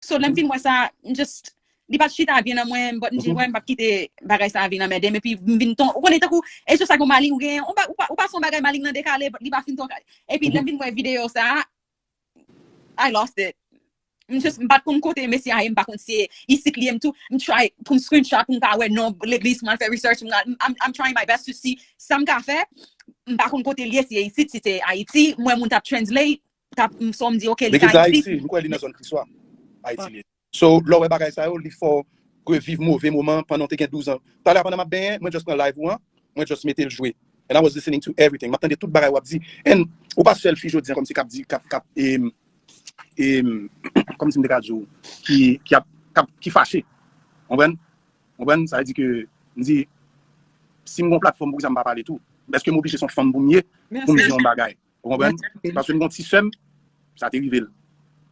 So lèm fin wè sa, m just, li pat chita byen nan mwen, but m di wè m pap kite bagay sa vin anmèdem epi m vin ton, ou konnen tankou e jis ak yon maling ou genyen, ou pa ou pa ou pa son bagay maling nan dekale but li pa fin ton kay. Epi lèm vin wè video sa, I lost it. M just m pat konn kote mesye a ye, m pa konn si se isit li ye, m tou m try pou m screenshot pou m ka wè non legliz pou m al fè research, m al I'm I'm trying my best to see sa m ka fè, m pa konn kote l ye si se isit, si se Ayiti, m wè moun tap translate, tap m son m di ok li ka ekzis. Li gen zòn Ayiti, m kwè li nan zòn Kriswa. Ayiti li ye. So, lè w wè bagay sa yo, li fè w reviv move moman pandan w te gen 12 an. Talè a pandan m ap benyen, mwen just pran live ou an, mwen just mete l jwe. And I was listening to everything. M ap tande tout bagay w ap di. And ou pa sèl fi jodi an kòmsi k ap di, k ap, k ap e, e, kòmsi m te ka di w, ki, ki ap, k ap, ki fache. Konprann? Konprann? Sa vle di ke m di si m gen yon platfòm poukisa m pa pale tou? Èske m oblije se yon fanm pou m ye pou m di yon bagay? Ou konprann? Paske m gen yon ti sè m, sa te rive l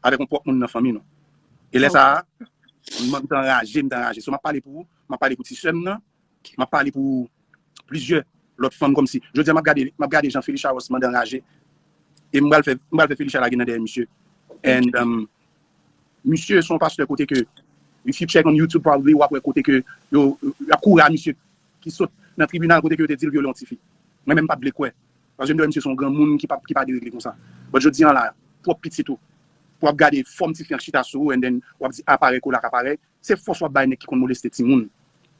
avèk yon pwòp moun nan fanmi nou. E lè sa a, m te anraje, m te anraje. So m ap pale pou ou, m ap pale pou ti sè m nan, m ap pale pou plizyè lòt fanm kòmsi. Jodi a m ap gade, m ap gade jan Felicia Ross mande anraje. E m pral fè, m pral fè Felicia lage nan dèyè misye. And, misye se yon pastè kote ke, if you check on YouTube probably, w ap wè kote ke yo, y ap kouri a misye ki sot nan tribinal kote ke yo te di l vyole yon tifi. Mwen menm m pa t vle kwè. Paske m te wè misye se yon granmoun ki pa deregle konsa. But jodi an la, pwòp pitit ou, pou w ap gade fòm ti fi an k chita sou ou and then w ap di aparèy kola ak aparèy, se fòs w ap bay nèg ki konn moleste timoun,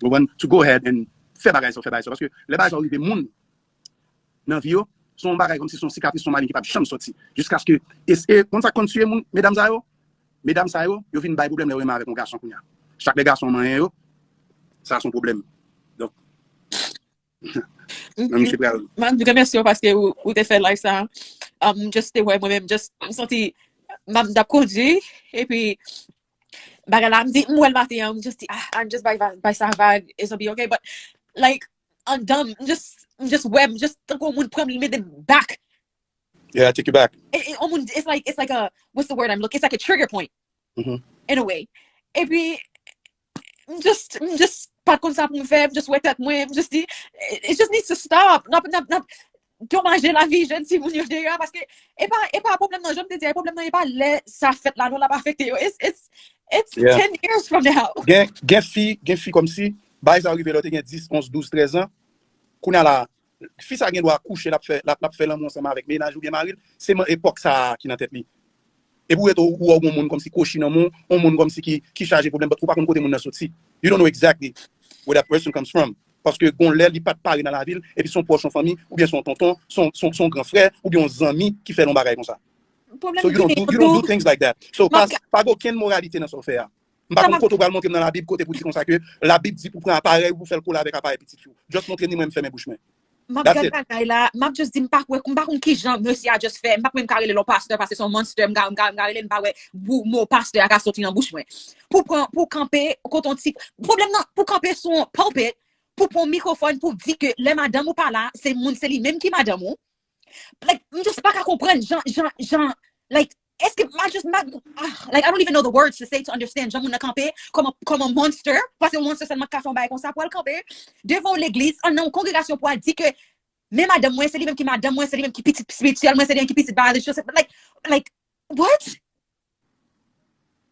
ou konprann, to go ahead and fè bagay sa w fè bagay sa yo. Paske lè bagay sa yo rive moun nan vi yo, se yon bagay kòmsi se yon sikatris, se yon maleng ki p ap janm sòti. Jiskaske, e e konn sa k konn tiye moun, medam sa yo? Medam sa yo, yo vin bay pwoblèm lè yo renmen avèk yon gason kounya. Chak lè gason an manyen yo, sa se yon pwoblèm. Donk. Nan misye pral. Man, remèsye ou paske ou, ou te fè live sa. Um, just te wè mwen menm, just m santi map dap kondi e pi bagay la m di m wè l maten an, m just di ah, I'm just by by by sa vag, it's gonna be okay, but like an dam, m just m just wè, m just tankou moun pran m mete back. Yeah, I take you back. E, e, on moun, it's like it's like a what's the word I'm looking, it's like a trigger point mm -hmm. in a way. E pi m just m just pat konn sa pou m fè, m just wè tèt mwen, m just di it just needs to stop. Nap nap nap domaje lavi jèn ti moun yo deya paske e pa e pa problem nan, janm te di a, e problem nan e pa lè sa fèt la non lap afekte yo. It's it's it's Yeah. 10 years from now. Gen gen fi, gen fi kòmsi bagay sa yo rive lè w te gen 10, 11, 12, 13 an. Kounye a la, Fi sa gen dwa kouche lap fè lap fè lanmou ansanm avèk mennaj oubyen maril se man epòk sa a ki nan tèt li epi ou rete ou wè ou gon moun kòmsi kwochi nan moun on moun kòmsi ki ki chaje pwoblèm but ou pa konn kote moun nan soti you don't know exactly where that person comes from paske gon lè li pat pare nan lavi l epi son pwòch on fanmi oubyen son tonton son son son gran frè oubyen on zanmi ki fè l on bagay konsa so you don't do you don't do things like that so pa pa gen okenn moralite nan sa w fè a M pa konn kote ou pral montre m nan labib kote pou di konsa ke labib di pou pran aparèy ou pou fèl kole avèk aparèy pitit fi w. Just montre ni mwen m fèmen bouch mwen. Map That's gad it. bagay la, map just di m pa kwè, m pa konn kijan mesye a just fè, m pa menm ka rele lò pastè paske son monster, m ka m ka m ka rele l m pa wè bou mo pastè a ka soti nan bouch mwen. Pou pran pou kanpe kote on ti pwoblèm nan pou kanpe sou on pulpit pou pran on mikrofòn pou di ke lè madanm ou pa la se moun se li menm ki madanm ou like m just pa ka konprann jan jan jan like Eske ma just ma like I don't even know the words to say to understand jan moun nan kanpe kòman kòman monster pase yon monster sèlman ka fè yon bagay konsa pou al kanpe devan yon legliz an nan yon kongregasyon pou al di ke men madanm mwen se li menm ki madanm mwen se li menm ki pitit spirituel mwen se li menm ki pitit biological like like what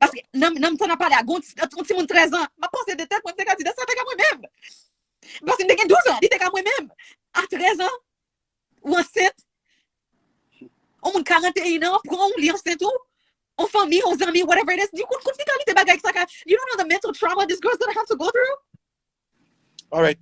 Paske nan nan mitan nan pale a gon yon timoun 13 an, map panse de tèt mwen, m te ka di de sa te ka mwen menm. Paske m te gen 12 an, li te ka mwen menm. A 13 an, ou ansent, on moun 41 an pran ou, li ansent ou, on fanmi, on zanmi, whatever it is, di ou konn konn ki kalite bagay sa ka, you don't know the mental trauma this girl's gonna have to go through? Alright.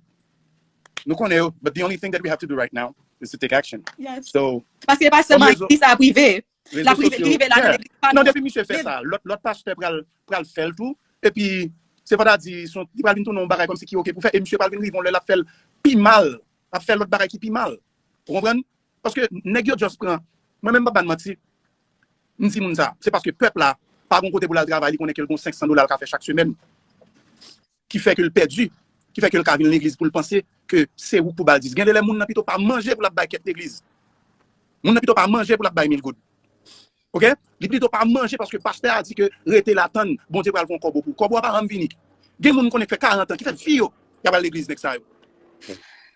Nou konnen yo, but the only thing that we have to do right now is to take action. Yes. So, Paske e pa Kom sèlman rezo- eglise la prive. rezo La prive, sosyo- prive la nan Yeah. eglise pa Non, depi misye fè sa, lòt lòt pastè pral pral fèl tou. Epi se pa ta di son li pral vin tounen yon bagay kòmsi ki ok pou fè e misye pral vin rive yon lè lap fèl pi mal, ap fè lòt bagay ki pi mal. Ou konprann? Paske nèg yo just pran mwen menm m pa ban manti, m di moun sa, se paske pèp la pa gon kote pou l al travay, li konnen ke l gon 500 dola l ka fè chak semèn. Ki fè ke l pèdi, ki fè ke l ka vin legliz pou l panse ke se ou k pou ba l dis. Gen de lè moun nan pito pa manje pou l ap bay kèk legliz. Moun nan pito pa manje pou l ap bay mil goud. Ok? Li pito pa manje paske pastè a di ke rete la tann Bondye pral fon kòbo pou ou. Kòbo a pa janm vini. Gen moun m konnen ki fè 40 an, ki fè vi yo y ap al legliz nèg sa yo.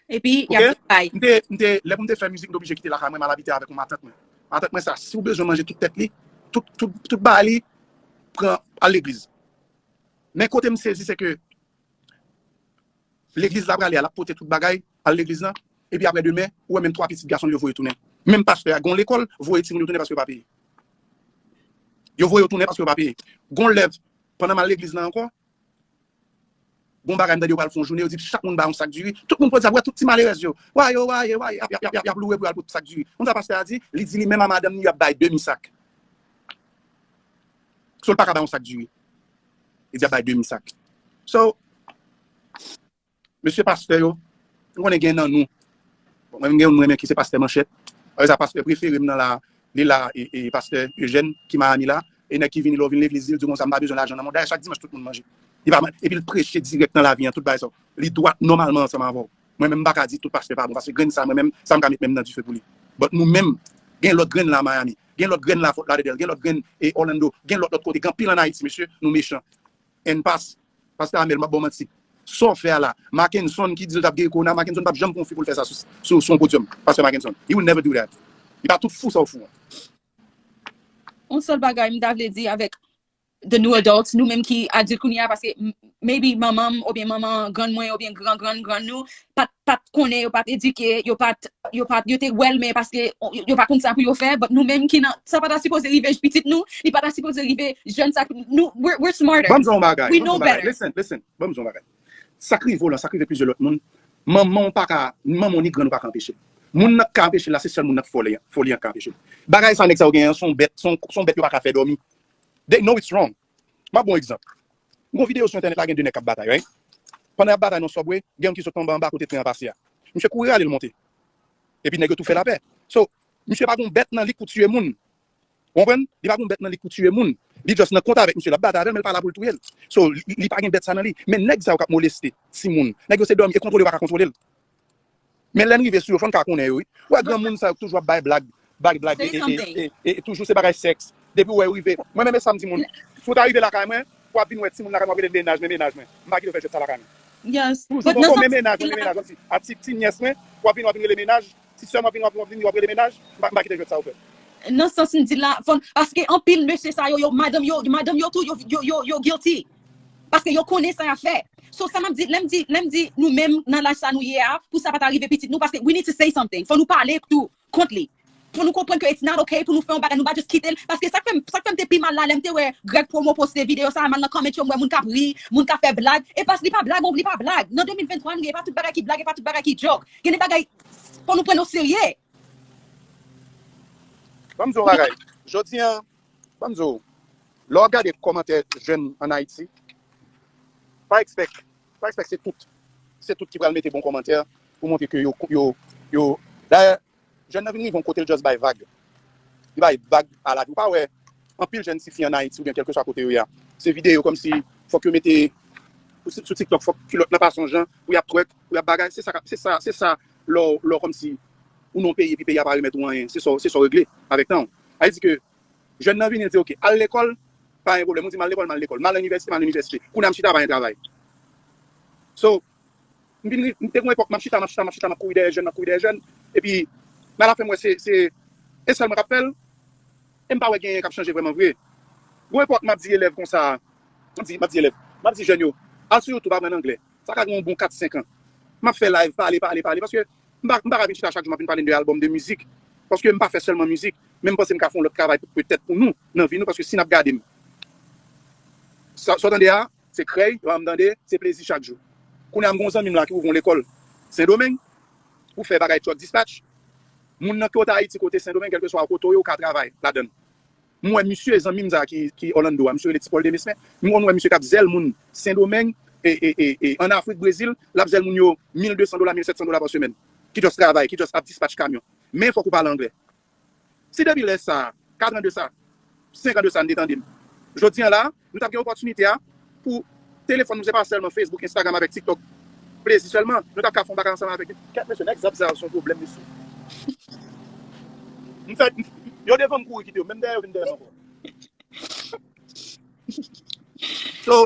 Epi y ap vin bay. Ok? M te, lè pou m te fè mizik m te oblije kite lakay mwen m al abite avèk yon matant mwen. Matant mwen sa si ou bezwen manje tout tèt li, tout, tout, tout bagay li pran al legliz. Men kote m sezi se ke legliz la prale a, l ap pote tout bagay al legliz la, epi aprè demen, ou wè menm 3 pitit gason l yo voye tounen. Menm pastè a, gen yon lekòl, voye timoun yo tounen paske yo pa peye. Yo voye yo tounen paske yo pa peye. Gen yon lè, pandan m al legliz la ankò, gen yon bagay m tande yo pral fè yon jounen, yo di chak moun bay yon sak diri, tout moun pran sa, wè tout ti malerèz yo, wa yo, wa ye, wa ye, y ap, y ap loure pou yo al pote sak diri. Konn sa pastè a di? Li di li menm a madanm li y ap bay demi sak. So l paka bay yon sak diri. Li di ap bay demi sak. So, mesye pastè yo, m konnen gen nan nou, bon mwen menm gen youn m renmen ki se pastè Manchèt, alè sa pastè prefere m nan la, li la e pastè Ejèn ki Miami la, e nèg ki vini lè w vin legliz li, li di w konsa m pa bezwen lajan nan mwen, dayè chak dimanch tout moun manje. Epi l preche dirèk nan lavi an, tout bagay sa, li dwat nòmalman ansanm avè w. Mwen menm m paka di tout pastè pa bon paske grenn sa mwen menm sa m ka met men m nan dife pou li but nou menm gen lòt grenn la Miami gen lòt grenn la Fort Lauderdale gen lòt grenn e Orlando gen lòt lòt kote gen anpil an Ayiti mesye nou mechan and pas pastè Amel m pap ba w manti sa w fè a la Mackenson ki di l t ap geri kowona Mackenson pap janm konfi pou l fè sa sou sou yon podium pastè Mackenson he will never do that li pa tout fou sa w fou an. On sèl bagay m ta vle di avèk the new adults, nou menm ki adilt kounye a, paske maybe manman m oubyen manman grann mwen oubyen gran grann grann nou pat pat konnen, yo pat edike, yo pat yo pat yo te wè l men paske yo pa konn sa pou yo fè but nou menm ki nan sa pa ta sipoze rive j pitit nou, li pa ta sipoze rive jèn sa ki nou we're we're smarter, Ban m di w yon bagay, we ban m di w know yon bagay, better. listen, listen, ban m di w yon bagay. Sa k rive w lan, sa k rive plizyè lòt moun, manman w pa ka, ni manman w ni grann ou pa ka anpeche l. Moun nan k ka anpeche l la se sèl moun nan k foli an, foli an k ka anpeche l. Bagay sa nèg sa yo genyen an s on bèt, s on s on bèt yo pa ka fè dòmi. They know it's wrong. M ap ba w yon egzanp. M gen yon videyo sou entènèt la gen 2 nèg k ap batay, right? Pandan y ap batay nan subway, gen youn ki sot anba anba kote tren an pase a. Misye kouri rale l monte. Epi nèg yo tou fè lapè. So, misye pa gen yon bèt nan li k pou tiye moun. Ou konprann? Li pa gen yon bèt nan li k pou tiye moun. Li just nan kont avèk misye. L ap batay avè l men li pa la pou l touye l. So, li pa gen bèt sa nan li. Men nèg sa yo k ap moleste timoun, nèg yo se dòmi e kontwole yo pa ka kontwole l. Men lè n rive sou yo fò n ka konnen yo wi. Ou wè granmoun sa yo k toujou ap bay blag, bay blag e e toujou se bagay sèks. Depi ou wè yo rive, mwen menm e sa m di moun, si w ta rive lakay mwen, w ap vin wè timoun lakay mwen w ap rele mennaj mwen, mennaj mwen. M pa kite yo fè jwèt sa lakay mwen. Toujou gon gon men mennaj mwen, men mennaj mwen. Kòmsi a ti ti nyès mwen, w ap vin w ap vin rele mennaj, ti sè m w ap vin w ap vin w ap rele mennaj. M pa kite jwèt sa yo fèt. Nan sans m di l la, fò n, paske anpil mesye sa yo, yo madanm yo, madanm yo tou yo yo yo guilty. Paske yo konnen sa yap fè. So sa map di, lèm di, lèm di nou menm nan laj sa nou ye a pou sa pa ta rive pitit nou paske we need to say something. Fò nou pale tou kont li. Fò nou konprann ke it's not ok pou nou fè yon bagay nou pa just kite l paske sak fèm, sak fèm te pi mal la lèm te wè Greg Promo poste video sa m'al nan comment yo m wè moun kap ri, moun kap fè blag e pas li pa blag on li pa blag nan 2023 nou ye e pa tout bagay ki blag e pa tout bagay ki joke. Gen de bagay fò nou prann yo serye. Banm di w yon bagay, jodi an Ban m di w, lè w ap gade kòmantè jèn an Ayiti, pa ekspèk pa ekspèk se tout se tout ki pral mete bon kòmantè pou montre ke yo yo yo Dayè, jèn nan vin rive yon kote l just bay vag. Li bay vag a lavi. Ou pa wè anpil jèn ti fi an Ayiti oubyen kèlkeswa kote yo ye a, se videyo kòmsi fòk yo mete sou sou TikTok fòk kilòt nan pase yon jan pou y ap twerk, pou y ap bagay. Se sa k ap se sa se sa lè w lè w kòmsi ou nan yon peyi epi peyi a pa remèt ou anyen se sa w se sa w regle avèk tan w. Sa vle di ke jèn nan vini, li di ok, al lekòl, pa gen pwoblèm. Ou di m al lekòl, m al lekòl. M al nan inivèsite, m al nan inivèsite. Kounye a m chita, pa gen travay. So, m vin rive, m te gen yon epòk, m ap chita, m ap chita, m ap chita, m ap kouri dèyè jèn, m ap kouri dèyè jèn. Epi, men alafen m wè se, se e sèl mwen k ap fè l. E m pa wè genyen k ap chanje vrèman vre. Gon epòk m ap di elèv konsa, m ap di, m ap di elèv, m ap di jèn yo, al sou YouTube aprann anglè. Sa ka gen yon bon 4, 5 an. M ap fè live, pale, pale, pale. Paske m pa m pa ka vin chita chak jou m ap vin pale n de album, de mizik. Paske m pa fè sèlman mizik. Men m panse m ka fè yon lòt travay pou petèt pou nou nan vi nou. Paske si n ap gade m, sa w tande a, se krèy, sa m tande, se plezi chak jou. Kounye a m gen yon zanmi m la ki ouvri yon lekòl Sendomeng pou fè bagay truck dispatch. Moun nan ke w ta Ayiti, ke w te Sendomeng, kèlkeswa kote w ye, ou ka travay ladan l. M wè misye, zanmi m sa ki Orlando a, misye rele Ti Pòl Demesmin, m konn wè misye k ap zèl moun Sendomeng, e an Afrik, Brezil, l ap zèl moun yo 1200 dola, 1700 dola pa semèn, ki just travay, ki just ap dispatch kamyon. Men fòk ou pale anglè. Si depi lè sa, 4 an de sa, 5 an de sa, n te tande m, jodi an la a, Nou tap gen opòtinite a pou telefòn nou se pa sèlman Facebook, Instagram avèk TikTok plezi sèlman, nou tap ka fè yon bagay ansanm avèk yo. Kèt mesye nèg zòt sa yo son pwoblèm mesye. M fè yo devan m kouri kite yo menm dèyè yo vin dèyè m ankò. So.